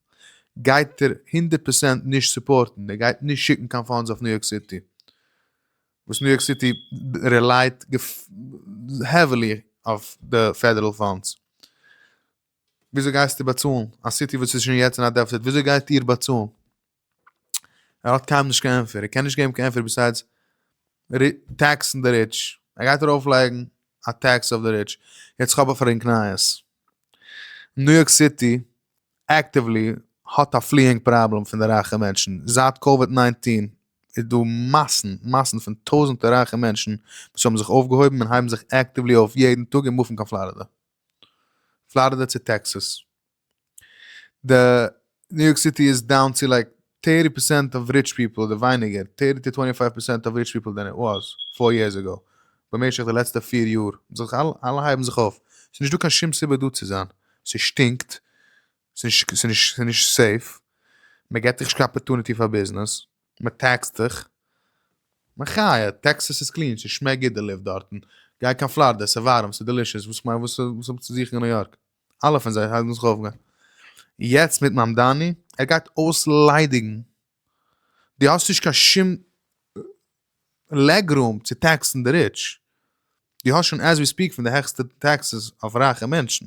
גייט ער הונדערט פערצענט נישט סופארטן ער גייט נישט שיקן קיין פאנדס אויף ניו יארק סיטי וואס ניו יארק סיטי רעלייט העווילי אויף די פעדערעל פאנדס. וויאזוי גייסטו באצאלן? א סיטי וואס איז שוין יעצט אין א דעפציט, וויאזוי גייט איר באצאלן? ער האט קיינעם נישט קיין ענטפער, ער קען נישט געבן קיין ענטפער ביסיידס טעקסן די ריטש, ער גייט ארויף לייגן א טעקס אויף די ריטש. יעצט כ'האב א פרענק נייעס. ניו יארק סיטי עקטיוולי האט א פליאינג פראבלעם פון די רייכע מענטשן. זייט קאוויד נײַנצן איז דא מאסן מאסן פון טויזענטער רייכע מענטשן וואס האבן זיך אויפגעהויבן און הייבן זיך עקטיוולי אויף יעדן טאג און מופן קיין פלארידע. פלארידע צו טעקסעס. די ניו יארק סיטי איז דאון צו לייק טערטי פערסענט אוו ריטש פיפל אדער ווייניגער טערטי טו טווענטי פייוו פערסענט אוו ריטש פיפל דען איט וואס פאר יערס עגאו במשך די לעצטע פֿיר יאר. אלע הייבן זיך אויף. ס'איז נישטא קיין שום סיבה דא צו זיין. ס'שטינקט. ס'נישט ס'נישט ס'נישט סעיף, מ'געט דיך נישט קיין אפערטוניטי פאר ביזנעס, מ'טעקסט דיך, מחיה, טעקסעס איז קלין, ס'שמעקט גוט די לופט דארטן, גיי קיין פלארידע, ס'ווארעם, ס'דעלישעס, וואס כ'מיין וואס וואס האב איך צו זוכן אין ניו יארק? אלע פון זיי הייבן זיך אויף גיין. יעצט מיט מאמדאני, ער גייט אויסליידיגן דו האסט נישט קיין שום לעגרום צו טעקסן די ריטש, דו האסט שוין עז ווי ספיק פון די העכסטע טעקסעס אויף רייכע מענטשן,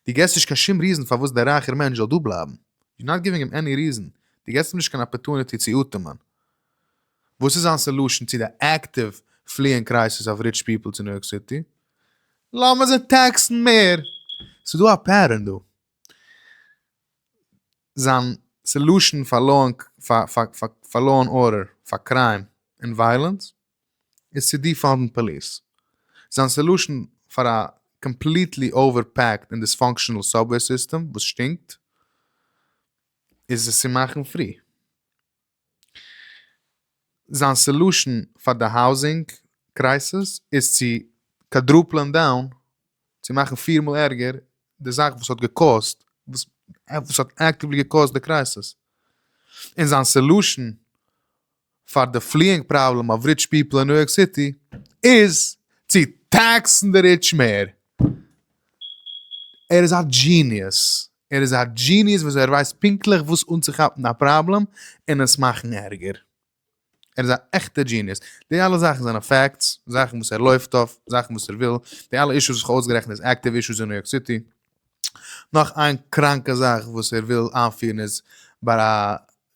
דו געבסט נישט קיין שום ריזן פארוואס דער רייכער מענטש זאל דא בלייבן, יו נאט גיווינג אים עני ריזן, דו געבסט אים נישט קיין אפערטוניטי צו אטעמען, וואס איז זיין סעלושען צו די עקטיוו פליען קרייסיס אוו ריטש פיפל צו ניו יארק סיטי? לאמיר זיי טעקסן מער! ס'איז דא א פעטערן דא. זיין סעלושען פאר לאו ענד פאר לאו ענד ארדער פאר קריים און וויילענס איז צו דיפאנדן פאליס. זיין סעלושען פאר א קאמפליטלי אווער פעקד און דיספאנקשענעל סאבוועי סיסטעם וואס שטינקט איז עס צו מאכן פרי. זיין סעלושען פאר די האוזינג קרייסיס איז צו קאדרופלען דאון, צו מאכן פיר מאל ערגער, די זאך וואס האט געקאוזט, וואס וואס האט עקטיוולי געקאוזט די קרייסיס. און זיין סעלושען פאר די פליאינג פראבלעם אוו ריטש פיפל אין ניו יארק סיטי איז צו טעקסן די ריטש מער. ער איז א דזשיניעס. ער איז א דזשיניעס וויאזוי ער ווייסט פונקטליך וואס אנצוכאפן א פראבלעם און עס מאכן ערגער. ער איז א עכטע דזשיניעס. די אלע זאכן זענען פעקטס, זאכן וואס ער לויפט אויף, זאכן וואס ער וויל, די אלע אישוס וואס כ'האב אויסגערעכנט איז עקטיוו אישוס אין ניו יארק סיטי. נאך איין קראנקע זאך וואס ער וויל איינפירן איז ביי א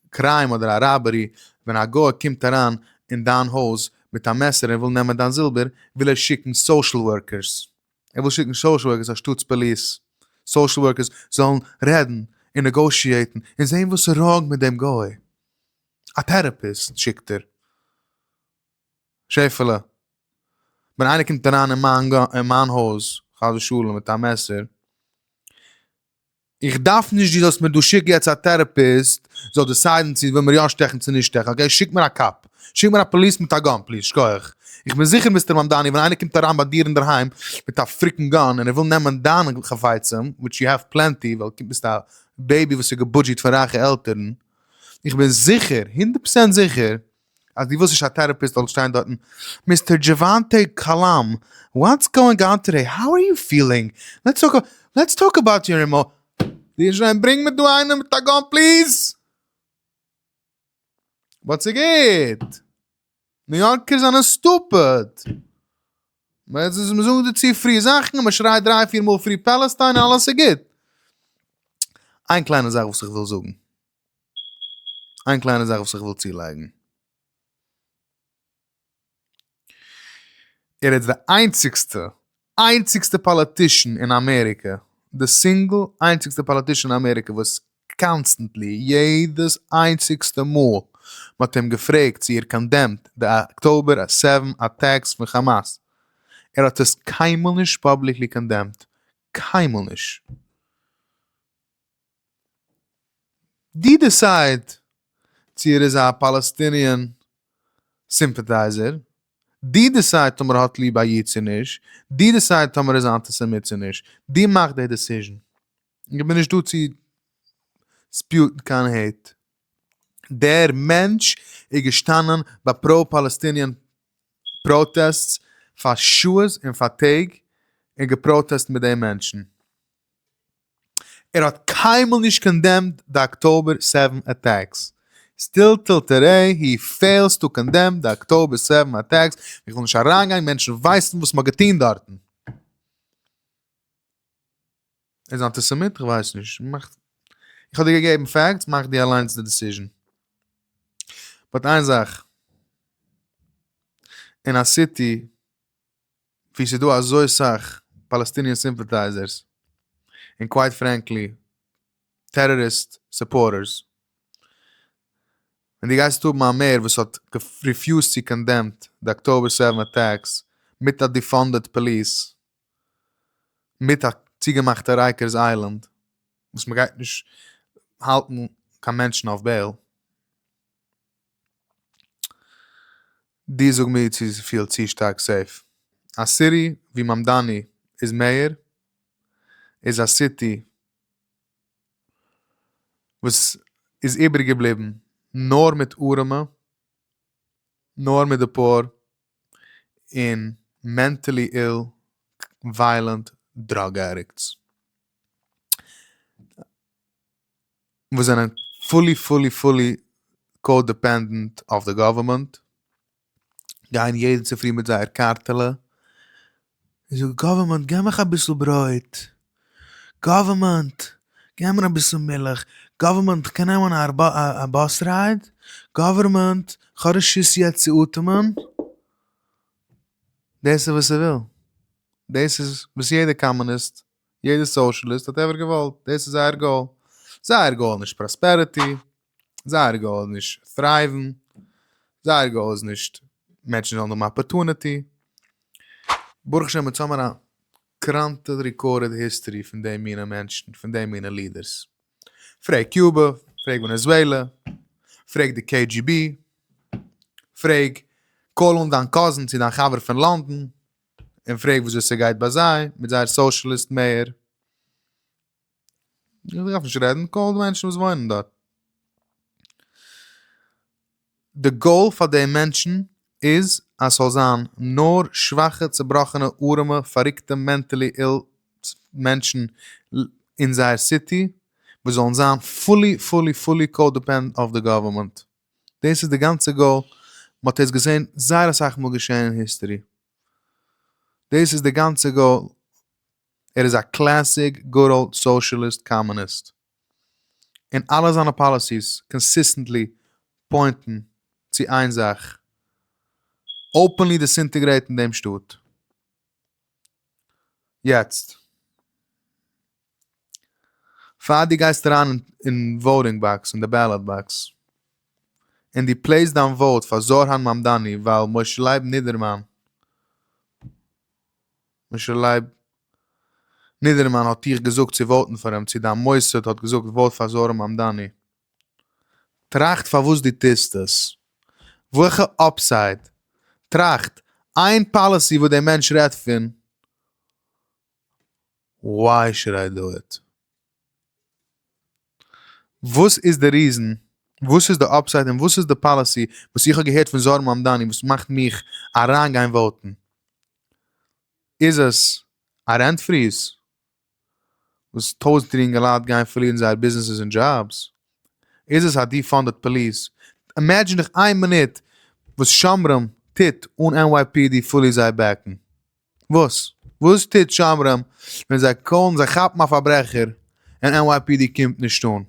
קריים אדער א ראבערי ווען א גוי קומט אריין אין דיין הויז מיט א מעסער און וויל נעמען דיין זילבער וויל ער שיקן סאושעל ווארקערס. ער וויל שיקן סאשעל ווארקערס אנשטאטס פאליס, סאשעל ווארקערס זאלן רעדן און נעגאושיעטן און זען וואס איז ראנג מיט דעם גוי, א טעראפיסט שיקט ער. שעפעלע, ווען איינער קומט אריין אין מיין הויז חס ושלום מיט א מעסער, איך דארף נישט דו זאלסט מיר דא שיקן יעצט א טערעפיסט זאל דיסיידן צו וויל מיר יא שטעכן צו נישט שטעכן אקעי שיק מיר א קאפ שיק מיר א פאליס מיט א גאן פליז שכוח איך בין זיכער מיסטער מאמדאני ווען איינער קומט אריין ביי דיר אינדערהיים מיט א פריקן גאן און ער וויל נעמען דיין חפצים וויטש יו העוו פלענטי ווייל דו ביסט א בעיבי וואס איז געבודזשעט פון רייכע עלטערן איך בין זיכער הונדערט פראצענט זיכער אז די וואס נישט א טערעפיסט זאל שטיין דארטן, מיסטער דזשעוואנטע קאלאם, וואטס גאוינג אן טודעי, האו אר יו פילינג, לעטס טאלק אבאוט, לעטס טאלק אבאוט יור אימא. די שרייבט ברענג מיר דא איינעם מיט א גאן פליז! באט ס'גוט! ניו יארקערס זענען סטופיד! מ'זאגט די צו פרי זאכן און מ'שרייט דריי פיר מאל פרי פעלעסטיין און אלעס איז גוט! איין קליינע זאך וואס איך וויל זאגן. איין קליינע זאך וואס איך וויל צולייגן. ער איז די איינציגסטע, איינציגסטע פאליטישן אין אמעריקע, די סינגל איינציגסטע פאליטישן אין אמעריקע וואס קאנסטענטלי, יעדעס איינציגסטע מאל מ'האט אים געפרעגט צו ער קאנדעמט די אקטאבער סעווען אטעקס פון כאמאס, ער האט עס קיינמאל נישט פאבליקלי קאנדעמט. קיינמאל נישט. די דיסייד צו ער איז א פאלעסטיניען סימפעטייזער, די דיסייד טאמער ער האט ליב א איד צו נישט, די דיסייד טאמער ער איז א אנטיסעמיט צו נישט, די מאכט די דיסיזשן, איך בין נישט דא צו ספיוטן קיין העיט, דער מענטש איז געשטאנען ביי פראו פאלעסטיניען פראטעסטס פאר שעות און פאר טעג און געפראטעסט מיט די מענטשן. ער האט קיינמאל נישט קאנדעמד די אקטאבער סעווען אטעקס, סטיל טיל טעדעי הי פעילס טו קאנדעם די אקטאבער סעווען אטעקס, איך וויל נישט אריינגיין, מענטשן ווייסן וואס מ'האט געטון דארטן. ער איז אנטיסעמיט? איך ווייס נישט. איך האב דיר געגעבן פעקטס, מאך דו אליינס די דעסיזשן. באט איין זאך, אין א סיטי ווי ס'איז דא אזוי סאך פאלעסטיניען סימפעטייזערס און קווייט פרענקלי טעראריסט סופארטערס און דו גייסט האבן א מעיאר וואס האט ריפיוזט צו קאנדעמט די אקטאבער סעווען אטעקס מיט א דיפאנדעד פאליס מיט א צוגעמאכטע רייקערס איילענד וואס מ'גייט נישט האלטן קיין מענטשן אויף בעיל. דו זאג מיר צו זי פילט צו שטארק סעיף. א סיטי ווי מאמדאני איז מעיאר איז א סיטי וואס איז איבעריג געבליבן נאר מיט ארעמע, נאר מיט די פאאר, און מענטעלי איל, וויילענט, דראג עדיקטס. וואס זענען פולי פולי פולי קאו-דעפענדענט אויף די גאווערמענט, גייען יעדן צופרי מיט זייער קארטעלע, און זאגן גאווערמענט גיב מיך אביסל ברויט, גאווערמענט גיב מיר אביסל מילך, גאווערמענט כ'קען נעמען א א באס רייד, גאווערמענט כ'האב רשות יעצט צו אטעמען, דאס איז וואס ער וויל, דאס איז וואס יעדע קאמוניסט יעדער סאושליסט האט עווער געוואלט, דאס איז זייער גאול, זייער גאול איז נישט פראספערעטי, זייער גאול איז נישט טרייווען, זייער גאול איז נישט מענטשן זאלן האבן אפערטונעטי, ברוך השם אונז האמער א קראנטע ריקארדעד היסטערי פון די מינע מענטשן, פון די מינע לידערס, פרעג קיובע, פרעג ווענעזועלע, פרעג די קעי דזשי בי, פרעג קאל אן דיין קאזין צי דיין חבר פון לאנדאן, און פרעג וויאזוי ס'גייט ביי זיי מיט זייער סאושליסט מעיאר. איך דארף נישט רעדן, קאל די מענטשן וואס וואוינען דארט. די גאול פאר די מענטשן איז אז ס'זאל זיין נאר שוואכע צובראכענע ארעמע פאריקטע מענטעלי איל מענטשן אין זייער סיטי וואס זאלן זיין פולי פולי פולי קאדעפענד אויף די גאווערמענט. דאס איז די גאנצע גאול, מען האט עס געזען זייער אסאך מאל געשען אין היסטערי, דאס איז די גאנצע גאול, ער איז א קלעסיק גוד אולד סאושליסט קאמוניסט, און אלע זיינע פאליסיס קאנסיסטענטלי פוינטן צו איין זאך, אפענלי דיסאינטעגרעיטן דעם שטאט. יעצט. פאר דו גייסט אריין אין וואוטינג באקס אין די בעלאט באקס און דו פלעיסט דיין וואוט פאר זארהאן מאמדאני ווייל משה לייב נידערמאן משה לייב נידערמאן האט דיך געזאגט צו וואוטן פאר אים צו דיין מוסד האט געזאגט וואוט פאר זארהאן מאמדאני טראכט פארוואס דו טוסט עס וועלכע אפסייד טראכט איין פאליסי וואס דער מענטש רעדט פון וויי שוד איי דא איט? וואס איז די ריזען? וואס איז די אפסייט און וואס איז די פאליסי וואס איך האב געהערט פון זוהר מאמדאני וואס מאכט מיך אריין גיין וואוטען? איז עס א רענט פריז וואס טויזענטער אינגעלייט גייען פארלירן זייער ביזנעסעס און דזשאבס? איז עס א דיפאנדעד פאליס? אימעדזשין דיך איין מינוט וואס שומרים טוט אן NYPD פולי זיי בעקן. וואס? וואס טוט שומרים ווען זיי קאלן, זיי כאפן א פארברעכער און NYPD קומט נישט אן?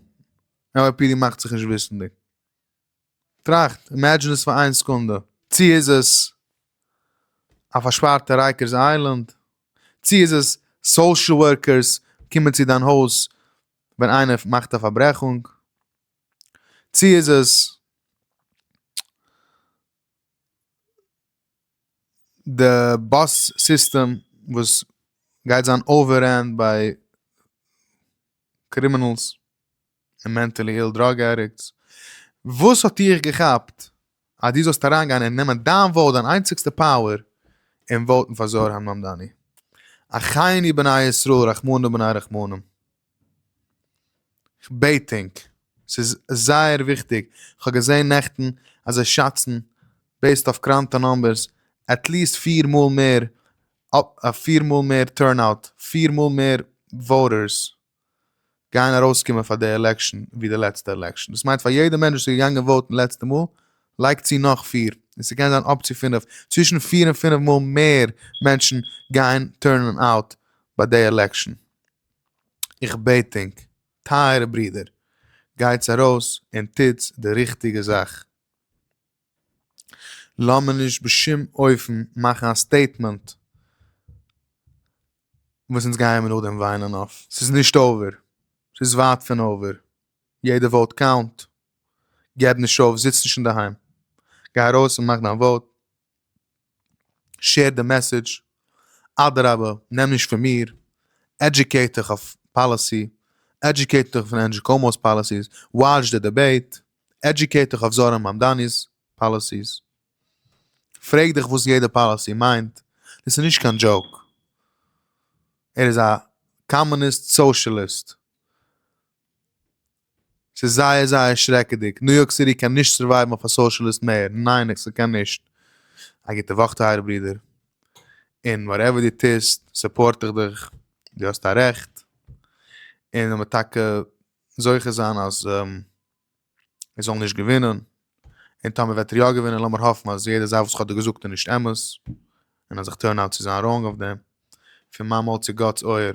NYPD מאכט זיך נישט וויסענדיג? טראכט, אימעדזשין עס פאר איין סעקונדע. צו איז עס א פארשפארטע רייקערס איילענד? צו איז עס סאושעל ווארקערס קומען צו דיין הויז ווען איינער מאכט א פארברעכונג? צו איז עס. די באס סיסטעם וואס גייט זיין אוועררענט ביי קרימינעלס און מענטעלי איל דראג עדיקטס, וואס האט דיך געכאפט אז דו זאלסט אריינגיין און נעמען דיין וואוט דיין איינציגסטע פאוער און וואוטן פאר זוהר הממדני? אחינו בני ישראל רחמנא בני רחמנים. כ'בעט ענק, ס'איז זייער וויכטיג, כ'האב געזען נעכטן אז זיי שאצן, בעיסד אויף קראנטע נומבערס, עטליעסט פֿיר מאל מער פֿיר מאל מער טורנאוט, פֿיר מאל מער וואוטערס גייען ארויסקומען פאר די עלעקשן ווי די לעצטע עלעקשן. דאס מיינט פאר יעדע מענטש וואס איז געגאנגען וואוטן לעצטע מאל, לייג צו נאך פֿיר, און ס'קען זיין אפ צו פֿינף, צווישן פֿיר און פֿינף מאל מער מענטשן גייען טורנען אוט ביי די עלעקשן. איך בעט ענק, טייערע ברידער, גייטס ארויס און טוטס די ריכטיגע זאך. לאמיר נישט בשום אופן מאכן א סטעיטמענט וואס אונז גייען מיר נאכדעם וויינען אויף. ס'איז נישט אויבער. ס'איז ווייט פון אויבער. יעדע וואוט קאונט. געב נישט אויף. זיץ נישט אינדערהיים. גיי ארויס און מאך דיין וואוט. שעיר די מעסעדזש, אדרבה נעם נישט פון מיר, עדיוקעיט דיך אויף פאליסי, עדיוקעיט דיך פון ענדזשי קאומאו'ס פאליסיס, וואטש די דיבעיט, עדיוקעיט דיך אויף זארא מאמדאני'ס פאליסיס, פרעג דיך וואס יעדע פאליסי מיינט, דאס איז נישט קיין דזשאוק, ער איז א קאמוניסט סאושליסט. ס'איז זייער זייער שרעקעדיג. ניו יארק סיטי קען נישט סורווייוון אויף א סאושעליסט מעיאר. ניין ס'קען נישט. א גוטע וואך טייערע ברודער. און וואטעווער דו טוסט סופארט איך דיך. דו האסט א רעכט. און לאמיר טאקע זוכה זיין אז ער זאל נישט געווינען. און טאמער וועט ער יא געווינען לאמיר האפן אז יעדע זאך וואס איך האב דיר געזאגט איז נישט אמת. און אז איך טורן אוט צו זיין ראנג אויף דעם. פון מיין מויל צו גאט'ס אויער.